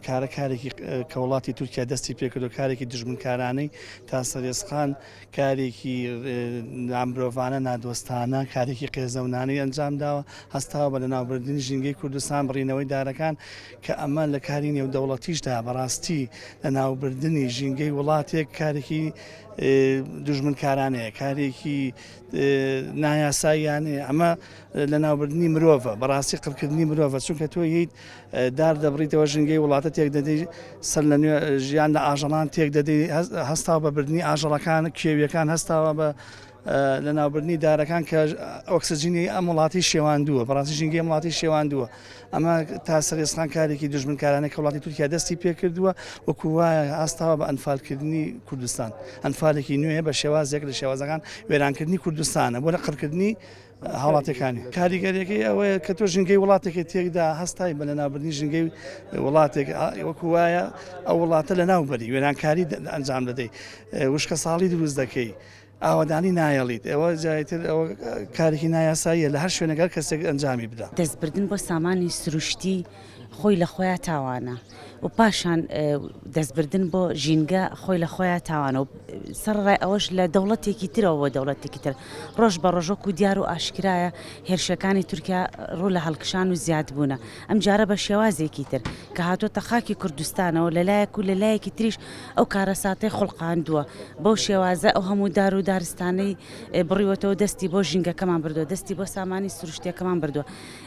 کارە کارێکی کە وڵاتی تورکیا دەستی پێکردو کارێکی دژمنکارانەی تا سەرێسقان کارێکی نامرۆڤانە نادۆستانە کارێکی قێزەونانەی ئەنجام داوە هەستاوە بە لەناوبردنی ژینگەی کوردستان بڕینەوەی دارەکان کە ئەمە لە کاری نێودەوڵەتیشدا بەڕاستی لەناوبردنی ژینگەی وڵاتێک کارێکی دژمنکارانەیە کارێکی نایاساییانەیە ئەمە لەناوبردنی مرۆڤە بەڕاستی قڕکردنی مرۆڤە چونکە تۆ ییت دار دەبڕیتەوە ژینگەی وڵاتە تێک دەدەی سەر لە نوێ ژیان لە ئاژەڵان تێک دەدەی هەستاوە بە بردننی ئاژەڵەکان کێویەکان هەستاوە بە لە ناوبردنی دارەکان کە ئۆکسسجینی ئەم وڵاتی شێواندووە بەڕاستی ژینگەی وڵاتی شێواندووە ئەمە تا سەرێسخان کارێکی دژمنکارانە کە وڵاتی تورکیا دەستی پێکردووە وەکوواە ئاستاوە بە ئەنفالکردنی کوردستان ئەنفالێکی نوێ بە شێوازێک لە شێوازەکان وێرانکردنی کوردستانە بۆ لە قڕکردنی هاوڵاتیەکانی کاریگەریەکەی ئەوەیە کە تۆ ژنگەی وڵاتێکی تێکدا هەستای بە لەناوبردنی ژنگەی وڵاتێک وەکو وایە ئەو وڵاتە لە ناوبەری وێرانکاری ئەنجام دەدەی وشکە ساڵی دروست دەکەی. ئاوادانی نایەڵیت ئەوە جایتر ئەوە کارێکی نایاساییە لە هەر شوێنەگەر کەسێک ئەنجامی بدا دەستبردن بۆ سامانی سروشتی خۆی لە خۆیا تاوانە و پاشان دەستبردن بۆ ژینگە خۆی لە خۆیا تاوانە و سەرڕای ئەوەش لە دەوڵەتێکی ترەوە بۆ دەوڵەتێکی تر ڕۆژ بە ڕۆژۆک و دیار و ئاشکرایە هێرشەکانی تورکیا ڕوو لە هەڵکشان و زیاد بوونە ئەم جارە بە شێوازێکی تر کە هاتوۆتە خاکی کوردستانەوە لە لایەک و لە لایەکی تریش ئەو کارەساتەی خڵقااندووە بەو شێوازە ئەو هەموو دار و دارستانەی بڕیوەتەوە دەستی بۆ ژینگەکەمان بردو دەستی بۆ سامانی سروشتەکەمان بردووە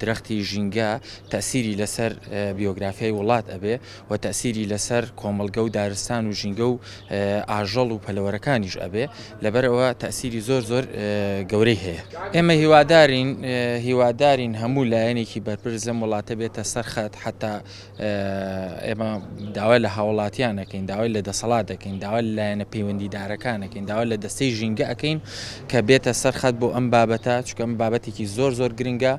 درەختی ژینگە تەئسیری لەسەر بیۆگرافیای وڵات ئەبێ و تەئسیری لەسەر کۆمەڵگە و دارستان و ژینگە و ئاژەڵ و پەلەوەرەکانیش ئەبێ لەبەر ئەوە تەئسیری زۆر زۆر گەورەی هەیە ئێمە هیوادارین هیوادارین هەموو لایەنێکی بەرپرس لەم وڵاتە بێتە سەرخەت حتا ئێمە داوای لە هاوڵاتیان ئەکەین داوای لە دەسەڵات دەکەین داوا لایەنە پەیوەندیدارەکان ئەەکەین داوا لە دەستەی ژینگە ئەەکەین کە بێتە سەرخەت بۆ ئەم بابەتە چکەم بابەتێکی زۆر زۆر گرنگە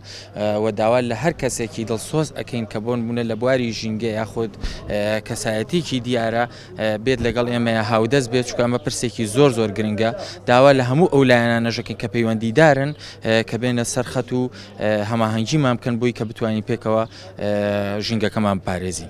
و داوا لە هەر کەسێکی دڵسۆز ئەەکەین کە بۆن بوونە لە بواری ژینگە یاخود کەسایەتیکی دیارە بێت لەگەڵ ئێمە هاودەست بێت چکە ئەمە پرسێکی زۆر زۆر گرنگە داوا لە هەموو ئەو لایەنە نەژەکەین کە پەیوەندیدارن کە بێنە سەرخەت و هەماهەنگیمان بکەن بۆی کە بتوانین پێکەوە ژینگەکەمان بپارێزین.